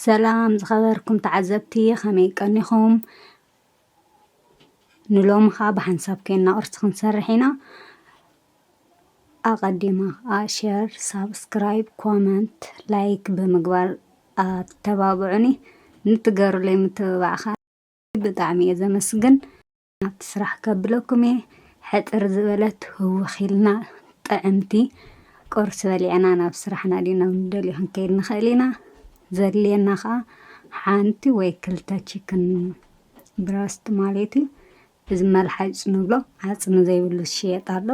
ሰላም ዝኸበርኩም ተዓዘብቲ ከመይ ቀኒኹም? ንሎሚ ኸኣ ብሓንሳብ ኴንና ቅርሲ ክንሰርሕ ኢና። ኣቐዲመ ኸኣ ሸር፣ ሳብስክራይብ፣ ኮመንት፣ ላይክ ብምግባር ኣተባብዑኒ። ንትገሩለይ ምትብባዕ ኸኣ ብጣዕሚ እየ ዘመስግን። ናብቲ ስራሕ ከብለኩም እየ ሕጥር ዝበለት ህውኽ ኢልና ጥዕምቲ ቁርሲ በሊዕና ናብ ስራሕና ድዩ ናብ ንደልዮ ክንከይድ ንኽእል ኢና ዘድልየና ከዓ ሓንቲ ወይ ክልተ ቺክን ብረስት ማለት እዩ እዚ መልሓጭ ንብሎ ዓፅሚ ዘይብሉ ዝሽየጥ ኣሎ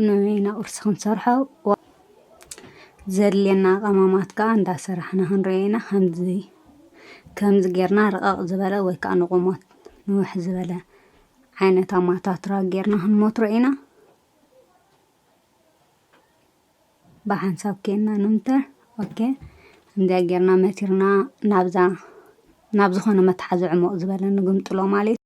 ንበይና ቁርሲ ክንሰርሖ ዘድልየና ቀማማት ከዓ እንዳሰራሕና ክንሪኦ ኢና ከምዚ ከምዚ ጌርና ርቐቕ ዝበለ ወይ ከዓ ንቑሞት ንውሕ ዝበለ ዓይነት ኣማታትራ ጌርና ክንሞትሮ ኢና ብሓንሳብ ኬንና ንምተር ኦኬ እንዲያ ጌርና መቲርና ናብዛ ናብ ዝኾነ መትሓዚ ዕሞቕ ዝበለ ንግምጥሎ ማለት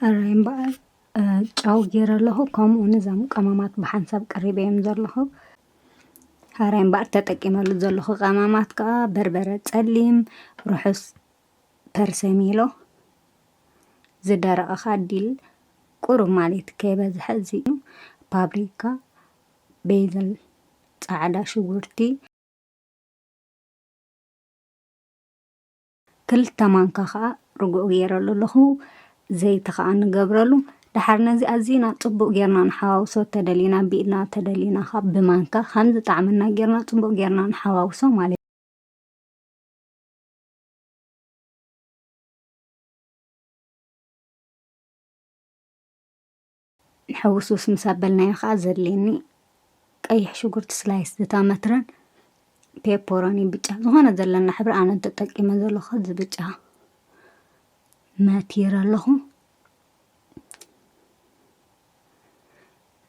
ሕራይ እምበኣር ጫው ገይረ ኣለኹ ከምኡ ውን እዞም ቀመማት ብሓንሳብ ቀሪበዮም ዘለኹ ሕራይ እምበኣር ተጠቂመሉ ዘለኹ ቀመማት ከዓ በርበረ ፀሊም ርሑስ ፐርሰሚሎ ዝደረቐ ከዓ ዲል ቁሩብ ማለት እዩ ከይበዝሐ እዚ እዩ ፓፕሪካ ቤዝል ፃዕዳ ሽጉርቲ ክልተ ማንካ ከኣ ርጉኦ ገይረሉ ኣለኹ። ዘይቲ ከኣ ንገብረሉ። ደሓር ነዚ ኣዚና ጽቡቕ ጌርና ንሓዋውሶ ተደሊና ብኢድና ተደሊና ከኣ ብማንካ ከም ዝጣዕመና ጌርና ጽቡቕ ጌርና ንሓዋውሶ ማለት እዩ። ሕውስውስ ምስ ኣበልናዮ ከኣ ዘድልየኒ ቀይሕ ሽጉርቲ ስላይስ ዝታመትረን ፔፐሮኒ ብጫ ዝኾነ ዘለና ሕብሪ ኣነ እንተጠቂመ ዘለኹ እዚ ብጫ መቲረ ኣለኹ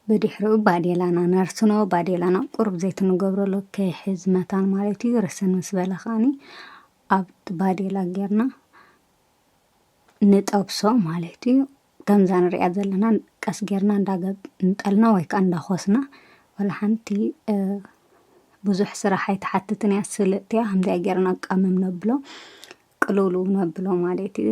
ብድሕሪኡ ባዴላና ነርስኖ ባዴላና ቁርብ ዘይት ንገብረሉ ከይሕዝ መታን ማለት እዩ ርስን ምስ በለ ከዓኒ ኣብቲ ባዴላ ጌርና ንጠብሶ ማለት እዩ ከምዛ ንሪኣ ዘለና ቀስ ጌርና እንዳገንጠልና ወይ ከዓ እንዳኾስና ዋላ ሓንቲ ብዙሕ ስራሕ ኣይትሓትትን እያ ስልጥቲ እያ ከምዚኣ ጌርና ቀምም ነብሎ ቅልውልው ነብሎ ማለት እዩ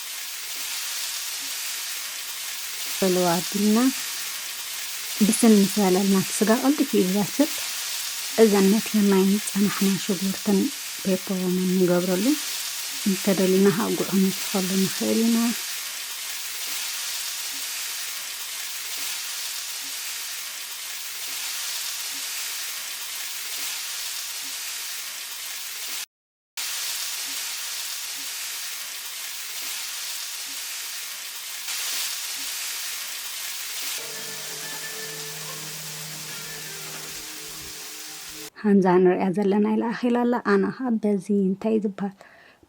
ዕልዋ ኣቢልና ብስል ምስ በለልና እቲ ስጋ ቀልጢፉ እዩ ዝበስል። እዘን መትከል ማይ ምስ ፀናሕና ሽጉርትን ፔፐሮንን ንገብረሉ እንተደሊና ከዓ ጉዕ ክንውስኸሉ ንኽእል ኢና። ከምዛ ንሪኣ ዘለና ኢላ ኣኺላ ኣላ ኣና ኸዓ በዚ እንታይ ዝበሃል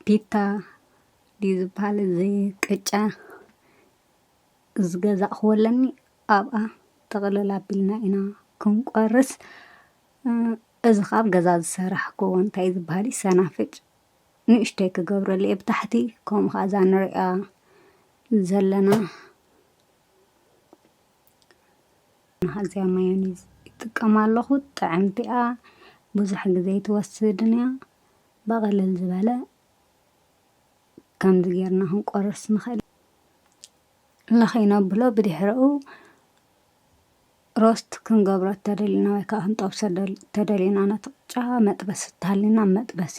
ፒታ ድዩ ዝበሃል እዚ ቅጫ ዝገዛእኽዎ ኣለኒ ኣብኣ ጥቕልል ኣቢልና ኢና ክንቆርስ እዚ ካብ ገዛ ዝሰራሕክዎ እንታይ ዝባሃል እዩ ሰናፍጭ ንእሽተይ ክገብረሉ እየ ብታሕቲ ከምኡ ከዓ እዛ ንሪኣ ዘለና ኣዝያ ማዮኒዝ ይጥቀም ኣለኹ ጥዕምቲ እያ ብዙሕ ግዜ ኣይትወስድን እያ ብቅልል ዝበለ ከምዚ ጌርና ክንቆርስ ንኽእል ለኺ ነብሎ ብድሕረኡ ሮስት ክንገብሮ እተደሊና ወይ ከኣ ክንጠብሶ እተደሊና ነቲ ቅጫ መጥበሲ እተሃልዩና ኣብ መጥበሲ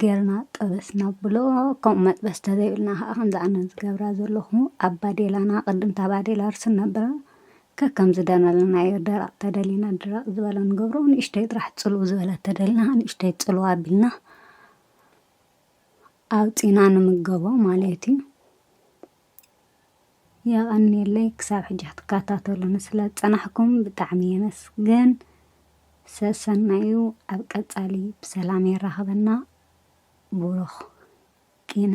ጌርና ጠበስ ናብሎ ከምኡ መጥበስ እተዘይብልና ከኣ ከምዚ ኣነ ዝገብራ ዘለኹ ኣብ ባዴላና ቅድም እታ ባዴላ ርስን ነብላ ከከም ዝደለናዮ ደረቅ እተደሊና ድረቅ ዝበለ ንገብሮ ንእሽተይ ጥራሕ ጽልው ዝበለ እተደሊና ከኣ ንእሽተይ ጽልው ኣቢልና ኣውጺእና ንምገቦ ማለት እዩ። የቐንየለይ ክሳብ ሕጂ ክትከታተሉኒ ስለ ዝጸናሕኩም ብጣዕሚ የመስግን። ሰሰናዩ ኣብ ቀጻሊ ብሰላም የራኽበና። ቡሩኽ ኪነ።